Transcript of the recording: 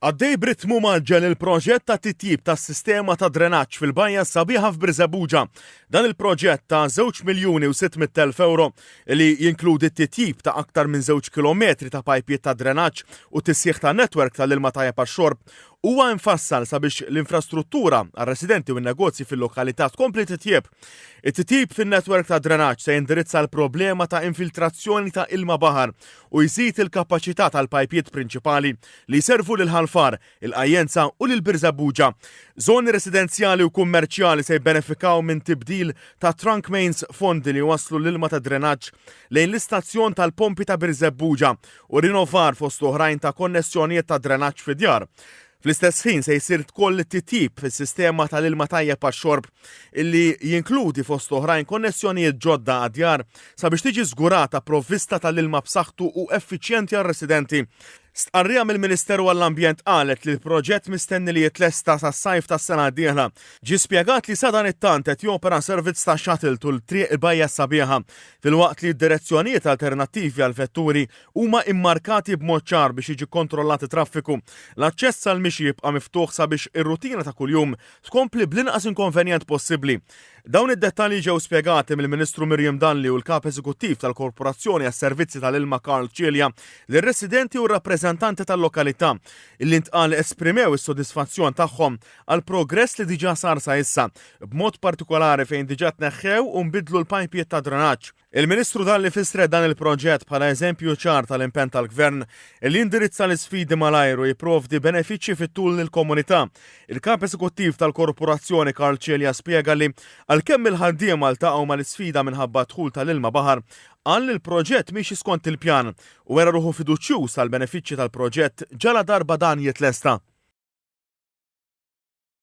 Għaddej b'ritmu mgħaġġel il-proġett ta' titjib tas-sistema ta' drenaġġ fil-bajja s-sabiħa f'Birżebbuġa. Dan il-proġett ta' żewġ miljuni u sitt mitt elf ewro li jinkludi t-titjib ta' aktar minn żewġ kilometri ta' pajpiet ta' drenaġġ u tisħiħ ta' netwerk tal-ilma tajjeb għax-xorb huwa mfassal sabiex l-infrastruttura għar-residenti u n-negozji fil-lokalità tkompli titjieb. It-titjib fin-netwerk ta' drenaġġ se jindirizza l-problema ta' infiltrazzjoni ta' ilma baħar u jżid il-kapaċità tal-pajpjiet prinċipali li jservu lil Ħal Far, il-Qajjenza u lil Birżebbuġa. Żoni residenzjali u kummerċjali se jibbenefikaw minn tibdil ta' trunk mains fondi li jwasslu l-ilma tad-drenaġġ lejn l-istazzjon tal-pompi ta' Birżebbuġa u rinovar fost oħrajn ta' konnessjonijiet tad-drenaġġ fid-djar. Fl-istess ħin se jsir tkoll titjib fis-sistema tal-ilma tajjeb għax-xorb illi jinkludi fost oħrajn konnessjonijiet ġodda għad-djar sabiex tiġi żgurata provvista tal-ilma b'saħħtu u effiċjenti għar-residenti. Stqarrija mill-Ministeru għall-Ambjent qalet li l-proġett mistenni li jitlesta sas-sajf tas-sena d-dieħla. Ġie spjegat li sadan it-tant qed jopera servizz ta' shuttle tul triq il-Bajja Sabiħa, filwaqt li d-direzzjonijiet alternattivi għall-vetturi huma immarkati b'mod ċar biex jiġi kkontrollat it-traffiku. L-aċċess għall-mixi jibqa' miftuħ sabiex ir-rutina ta' kuljum tkompli bl-inqas inkonvenjent possibbli. Dawn id-dettalji ġew spjegati mill-Ministru Miriam Dalli u l-Kap Eżekuttiv tal-Korporazzjoni għas-Servizzi tal-Ilma Karl Cilia lir-residenti u r-rappreżentanti tal-lokalità li ntqal esprimew is-sodisfazzjon tagħhom għall-progress li diġà sar sa issa, b'mod partikolari fejn diġà tneħħew u nbidlu l-pajpjiet tad-drenaġġ. Il-Ministru Dalli fissret dan il-proġett bħala eżempju ċar tal-impenn tal-Gvern li jindirizza l-isfidi malajr u jipprovdi benefiċċji fit-tul lill-komunità. Il-Kap Eżekuttiv tal-Korporazzjoni Karl Cilia spjega li għalkemm il-ħaddiema ltaqgħu mal-isfida minħabba d-dħul tal-ilma baħar, qal li l-proġett miexi skont il-pjan u wera ruħu fiduċjuż għall-benefiċċji tal-proġett ġaladarba dan jitlesta.